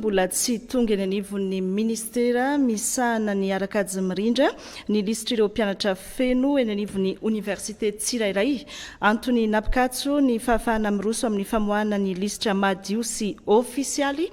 mbola tsy tonga eny anivon'ny ministera misahana ny arakajy mirindra ny lisitry ireo mpianatra feno eny anivon'ny oniversite tsirairay. Antony nampikatso ny fahafahana miroso amin'ny famoahana ny lisitra madio sy ofisialy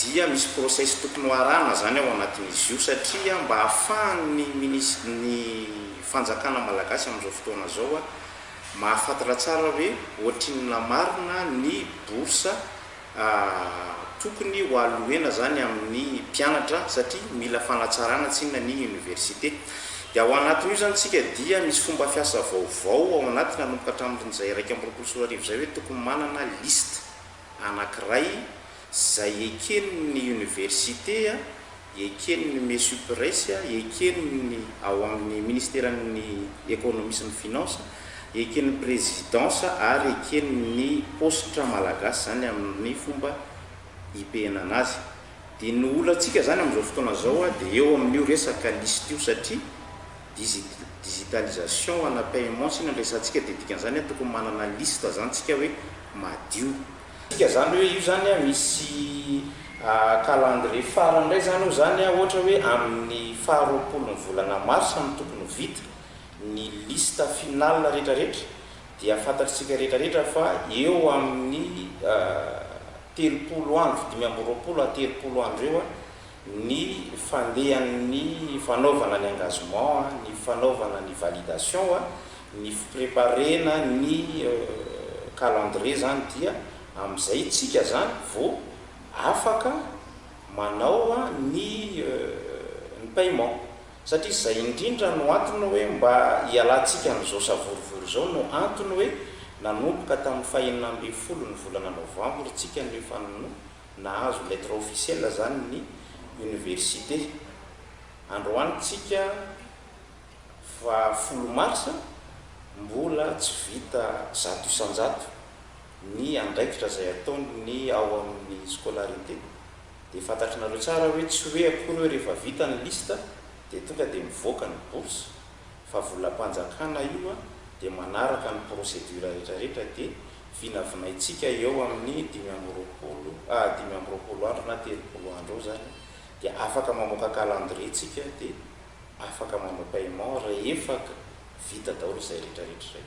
dia misy process tokony ho arahana zany ao anatin'izy io satria mba ahafahan'ny minis ny fanjakana malagasy amin'izao fotoana zao a mahafantatra tsara hoe ohatrinona marina ny bourse a tokony ho allouena zany amin'ny mpianatra satria mila fanatsarana tsinona ny université dia ao anatin'io zany tsika dia misy fomba fiasa vaovao ao anaty nanomboka hatramin'izay iraika amby roapolo sy roa arivo izay hoe tokony manana liste anakiray Izay eken'ny oniversite, eken'ny Mesupres, eken'ny ao amin'ny Ministeran'ny Ekonomia sy ny Finances, eken'ny Présidence ary eken'ny paositra malagasy izany amin'ny fomba ipehenana azy. Dia ny olantsika izany amin'izao fotoana izao dia eo amin'io resaka lisite io satria digitalisation ana paiement sina no resahantsika dia dikan'izany tokony manana lisite izany isika hoe madio. Midika zany hoe io zany misy calendrier farany indray zany eo zany ohatra hoe amin'ny faha roapolo ny volana marsa no tokony ho vita ny liste finale rehetra rehetra dia fantatr'isika rehetra rehetra fa eo amin'ny telopolo andro dimy amby roapolo à telopolo andro eo ny fandehan'ny fanaovana ny engagement ny fanaovana ny validation Ny fipreparena ny calendrier zany dia amin'izay tsika zany vao afaka manao ny ny paiement satria zay indrindra no antony hoe mba hialantsika amin'izao savorovoro izao no antony hoe nanomboka tamin'ny fahenina ambin'ny folo ny volana novambra tsika no efa no nahazo lettre officielle zany ny université androany tsika fa folo marsa mbola tsy vita zato isan-jato ny andraikitra izay ataony ny ao amin'ny scolarité dia fantatrnareo tsara hoe tsy hoe akory hoe rehefa vita ny liste dia tonga dia mivoaka ny bourse fa volam-panjakana io dia manaraka ny procédure retraretra dia vinavinaintsika eo amin'ny dimy amby roapolo ah dimy amby roapolo andro na telopolo andro eo izany dia afaka mamoaka calendrier tsika dia afaka manao paiement rehefa vita daholo izay rehetra rehetra izay.